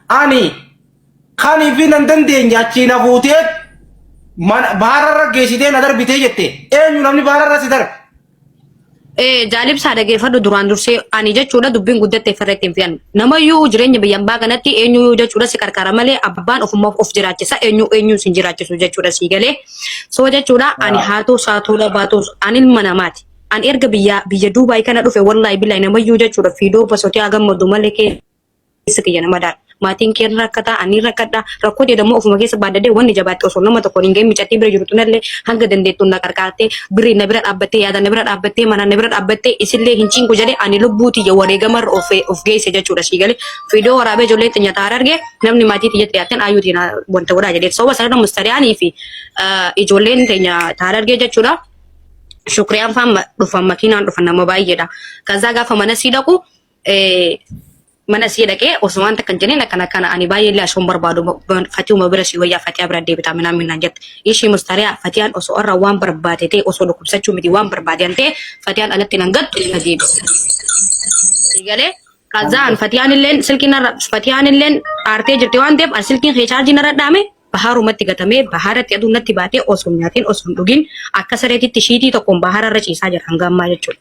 Ani kan fi nan dandeenye achii na fuutee baararra geessitee na darbitee jette eenyu namni baararra si darbe. Ee jaalibsaa dhageeffadhu duraan dursee ani jechuudha dubbiin guddatte farratti hin fi'an. Namayyuu jireenya biyya ambaa kanatti eenyuyyuu jechuudha si qarqara malee abbaan ofummaaf of jiraachisa eenyu eenyuun sin jiraachisu jechuudha sii galee. Soo jechuudha ani haatuu saatuu labaatuus ani ilma namaati. Ani erga biyya biyya Duubaay kana dhufe wallahi billahi namayyuu jechuudha fiidoo basotii haa gammadu malee kee keessa kiyya na madaala. Maatiin kee ni rakkata, ani ni rakkadha. Rakkoo jedhu ammoo ofuma keessa baaddadhee wanni jabaatte osoo nama tokkoon hin gahin micattii bira jirtu tanallee hanga dandeettuun na qarqaartee birriin na bira dhaabbattee yaadaan na bira dhaabbattee manaan na bira dhaabbattee isillee hin cinqu jedhee ani lubbuu tiyya wareegamarra of of geesse jechuudha sii galee viidiyoo waraabee ijoolleen tiyya taa'aa arge namni maatii tiyyatti dhiyaatteen ayyuu tiyya na- wanta godhaa jedhee sababa sanarra mustariyaanii fi ah, ijoolleen tiyya taa'aa arge jechuudha. Shukriyaan faan ma- dhufan makiinaan dhufan nama baay'eedha. Kazaa gaafa mana sii dhaqu mana sii dhaqee osumaan takkan jeneen akkana kana ani baay'ee illee ashoon barbaadu fatiuma bira sii wayyaa fatiyaa bira deebitaa minaan minaan jette ishii mustariyaa fatiyaan osoo irra waan barbaade ta'e osoo dhukkubsachuu miti waan barbaade ta'e fatiyaan alatti nan gattu na deebi. Galee kazaan fatiyaan illeen silkiin irra fatiyaan illeen aartee jirti waan ta'eef an silkiin kee chaarjiin irra dhaame bahaarumatti gatamee bahaaratti aduun natti baatee osoo nyaatiin osoo hin dhugin akka sareetitti shiitii tokkoon bahaara irra ciisaa jira hanga ammaa jechuudha.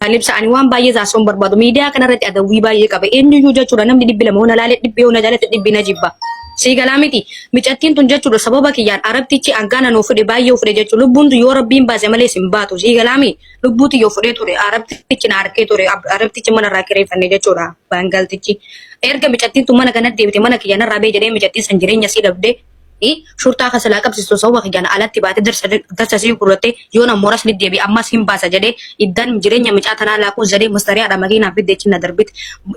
Kan ibsa ani waan baay'ee taasisuun barbaadu miidiyaa kanarratti adawwii baay'ee qaba. Eenyuyyuu jechuudha namni dhibbi lama hona laalee dhibbi hona jaalatti dhibbi na jibba. Sii galaa miti micattiin tun jechuudha sababa kiyyaan arabtichi hangaana nuu fudhe baay'ee fudhe jechuudha lubbuun tun yoo rabbiin baase malee sin baatu sii galaa miti lubbuuti yoo fudhee ture arabtichi na harkee ture ab- arabtichi mana irraa kireeffanne jechuudha baangaltichi. Erga micattiin tun mana kanatti deebite mana kiyya narraa bee jedhee micattiin san jireenya sii dhabdee shurtaa kasalaa qabsistu sababa kiyyaan alatti baate darsa sii gurratte yoon ammoo ras deddeebi ammas hin baasa jedhee iddan jireenya micaa tanaa laaquu zaree mustariyaadha makiinaa fidde ichi na darbite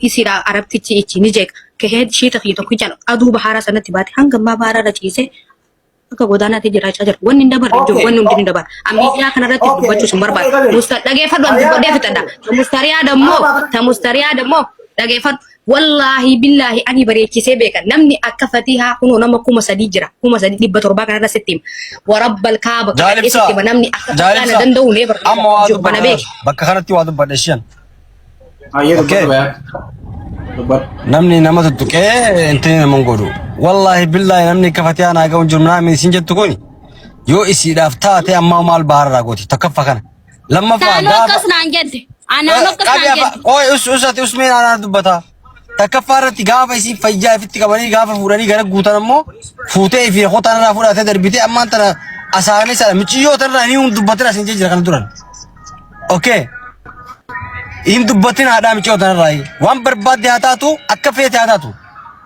isiidha arabtichi ichi ni jeeqa kahee shiita kiyya tokkichaan aduu bahaaraa sanatti baate hanga ammaa bahaaraa irra ciisee akka godaanaatti jiraachaa jira. Wanni hin dabarre jiru, wanni hundi ni dabarra. Ammayyaa kanarratti dubbachuu sun barbaada. Musta dhageeffadhu an dubbadhee fixadha. Ta mustariyaa dammoo, ta mustariyaa dammoo dhageeffadhu. Wallaahi billaahi ani bareechisee beeka namni akka fatihaa kunoo nama kuma sadii jira kuma sadii dhibba torbaa kanarra sitti hima warabbal kaaba kadhadhee sitti hima namni akka fatihaa na danda'u nee barbaada amma waa jiru kana beeki. dubbadhe bakka kanatti waa dubbadhe shiyan Hayyee Okay. dubbadhu bayaa. Dubbadhu. namni nama tuttuqee intini nama hin godhu wallaahi billaahi namni akka fatiyaa naa ga'u hin jiru naamni isin jettu kun yoo isiidhaaf taate ammaa maal baharraa gooti tokkoffa kana Lammaffaa Naannoo gaafa akkas naan jette. Ah, Naannoo akkas qabi naan afa jette. ooy us usati usmee naanaa dubbata. Takkaffaa irratti gaafa isiin fayyaa ifitti qabanii gaafa fuudhanii gara guutan ammoo fuutee fi hotaan irraa fudhatee darbitee ammaan tana asaanii sana miciyyoo tanarraa inni hin dubbatin asiin jira kana duran. Okay. Hin dubbatin haadhaa miciyyoo tanarraa waan barbaadde haa taatu akka feete haa taatu.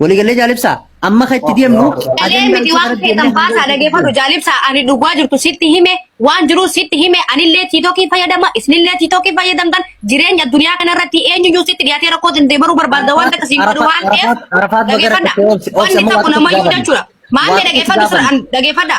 Walii galee jaalibsaa amma kan itti deemnu Galee miti waan feetan baasaa dhageeffadhu jaalibsaa ani dhugaa jirtu sitti hime waan jiru sitti hime anillee tiitokii fayyadama isinillee tiitokii fayyadamtan jireenya addunyaa kanarratti eenyuyyuu sitti dhiyaatee rakkoo sin deemaruu barbaadda waan takka siin godhu waan ta'eef dhageeffadha wanni tokko namayyuu jechuudha maamee dhageeffadhu sun dhageeffadha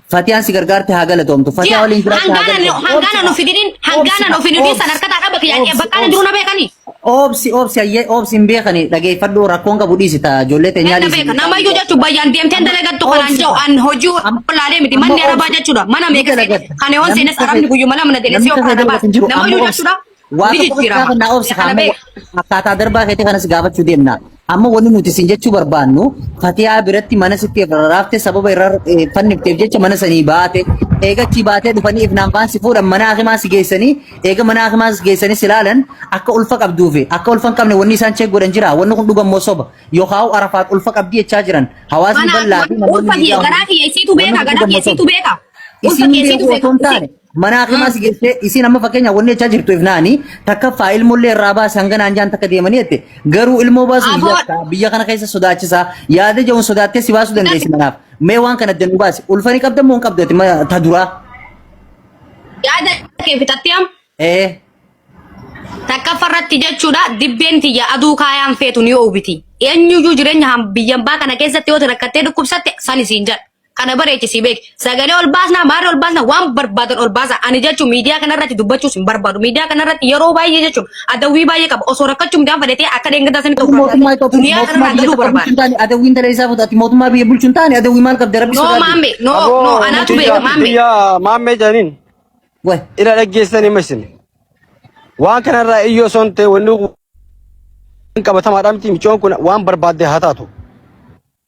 Fatiyaan si gargaarte haa galatoomtu. Fatiyaa waliin jiraatte haa Hangana galatoomtu. hangana nu fidinin hangana nu fidinin Obsi, sadarkata dhaba kiyya obsi, bakka ani duruu na beekani. Obsi obsi ayyee obsi hin beekani dhageeffadhu rakkoon qabu dhiisi ta'a ijoollee teenyaa Ganna dhiisi. beeka namayyuu jechuun bayyaan deemteen dalagattu kanaan jiru an hojii olaalee miti manni arabaa jechuudha mana meeqa seene kan yoon seenes arabni guyyuma lama na deene si ofirraa dabaa namayyuu jechuudha. Waa Ni tokko bas jijjiirama. gaafa naa obsi Kana amma beeka. akkaataa darbaa keetii kanas gaafachuu deemna. Amma wanni nuti isin jechuu barbaannu fatiyaa biratti mana sitti irraafte sababa irra eh, fannifteef jecha mana sanii baate eegachii baatee dhufanii ifnaan faan si fuudhan mana hakimaa si geessanii eega mana hakimaa si geessanii si laalan akka ulfa qabduu fi akka ulfa hin qabne wanni isaan cheek godhan jira wanni kun dhugan moo soba yookaan arafaat ulfa qabdii jechaa jiran hawaasni Mana bal'aa fi namoonni ulfa miidiyaa garaa kiyya isiitu beeka garaa kiyya isiitu beeka. Ulfa isin kiyya beeku isiitu osoo hin beeka. taane Manaa kimaa si geessee isiin amma fakkeenya wanni jechaa jirtu ifnaani takkaffaa ilmollee irraa baase hanga naan jaan takka deemanii jette garuu ilmoo baasuuf Aboo- yakka biyya kana keessa sodaachisa yaada ja'uun sodaattee si baasuu dandeessi manaaf mee waan kana adda nu baasi ulfanii qabda moo hin qabdu ati ma- ta duraa Yaada kee fixattee am ee takkaffa irratti jechuudha dibbeen tiyya aduu kaayaan feetu ni oowwiti. Eenyuyyuu jireenya ham- biyya ambaa kana keessatti yoo rakkattee dhukkubsatte san isiin jedha. kana bareechi si beek sagalee ol baasna maarri ol baasna waan barbaadan ol baasa ani jechuun miidiyaa kanarratti dubbachuus hin barbaadu miidiyaa kanarratti yeroo baay'ee jechuun adawwii baay'ee qaba osoo rakkachuu midhaan fedhatee akka dheengataa sanitti of mootummaa raawwatee Itoophiyaa duniyaa mootummaa kanarraa biyya galuu tokko bulchu barbaada. hin taane adawwiin dalee isaa fuudhati mootummaa biyya bulchu hin taane adawwii maal qabda rabbi No sodaadhu. maamme no no Aboo anaatu nuti beeka maamme. biyya maammee jedhaniin Waay. ila dhaggeessan hima isin. Waan kanarraa iyyoo son ta'e wanni kun qabatamaadha miti micoon kun waan barbaadde haa taatu.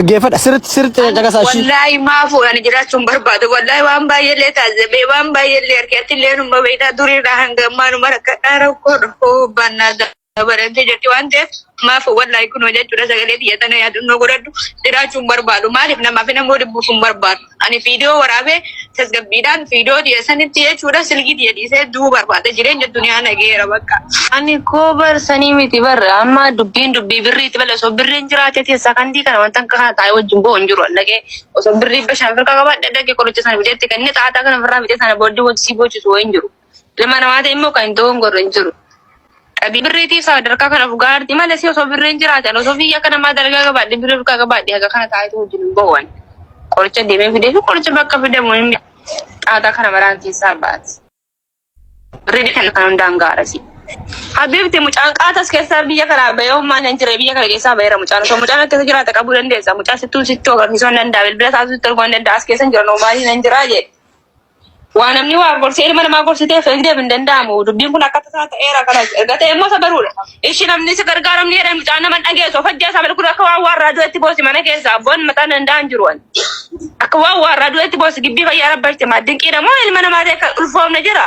Dhaggeeffadha sirriitti sirriitti Ani caqasaa ishii. wallaahi maafu ani jiraachuu hin barbaadu. Wallaahi waan baay'eellee taasisee waan baay'eellee arge atillee numa beektaa duriirraa hanga ammaa numa rakkadhaa rakkoo rakkoo baannaa dabalatee jirti waan ta'eef maafu wallaahi kunoo jechuudha sagalee biyya tana yaadannoo godhadhu jiraachuu hin barbaadu. Maaliif namaaf namuu dhibbuuf hin barbaadu. Ani viidiyoo waraabee tasgabbiidhaan viidiyoo diya sanitti jechuudha silkii diya dhiisee du'uu barbaada jireenya duniyaa nageera bakka. Ani koo bar sanii miti bar amma dubbiin dubbii birriiti bale osoo birriin jiraate tee sakandii kana wanta akka kana taa'ee wajjin bo'o hin jiru allaqee osoo birrii bashaan firka qabaadhe dhaqee qoricha sana biteetti kenne xaaxaa kana firraa bitee sana booddee wanti sii boochisu wayii hin jiru. Ilma namaa ta'e immoo kan hin dogongorre hin jiru. Qabii birriitiif sadarkaa kana dhugaa arti malee si osoo birriin jiraatan osoo biyya akka namaa dalagaa qabaadhe birrii dhugaa qabaadhe haga kana taa'etu wajjin hin boo'an. Qoricha deemee fidee fi qoricha bakka fidamu hin xaaxaa kana maraan keessaa baati. Birrii kan kan hundaan gaarasi. Habibti mucaan qaatas keessaa biyya kanaa bahee ummaa hin jire biyya kana keessaa baheera mucaan osoo mucaan akkasa jiraata qabuu dandeessa mucaa sittuu sittuu agarsiisuu hin danda'a bilbila taasisuu sitti arguu hin danda'a as keessa hin jiran ummaa hin jiraa jedhe. Waa namni waa gorsee ilma namaa gorsiteef hin deebi hin danda'amu. Dubbiin kun akka tasaa ta'eera kana erga ta'e immoo sabaruudha. Ishi namni si gargaaru ni jedhan mucaan nama hin dhageessu. Of ajjeesaa bal kun akka waan waarraa du'etti boosi mana keessa abboon mataa hin danda'an jiru ani. Akka waan waarraa du'etti boosi gibbii fayyaa rabbarti maa dinqiidha moo ilma namaa ta'e kan ulfoofne jira.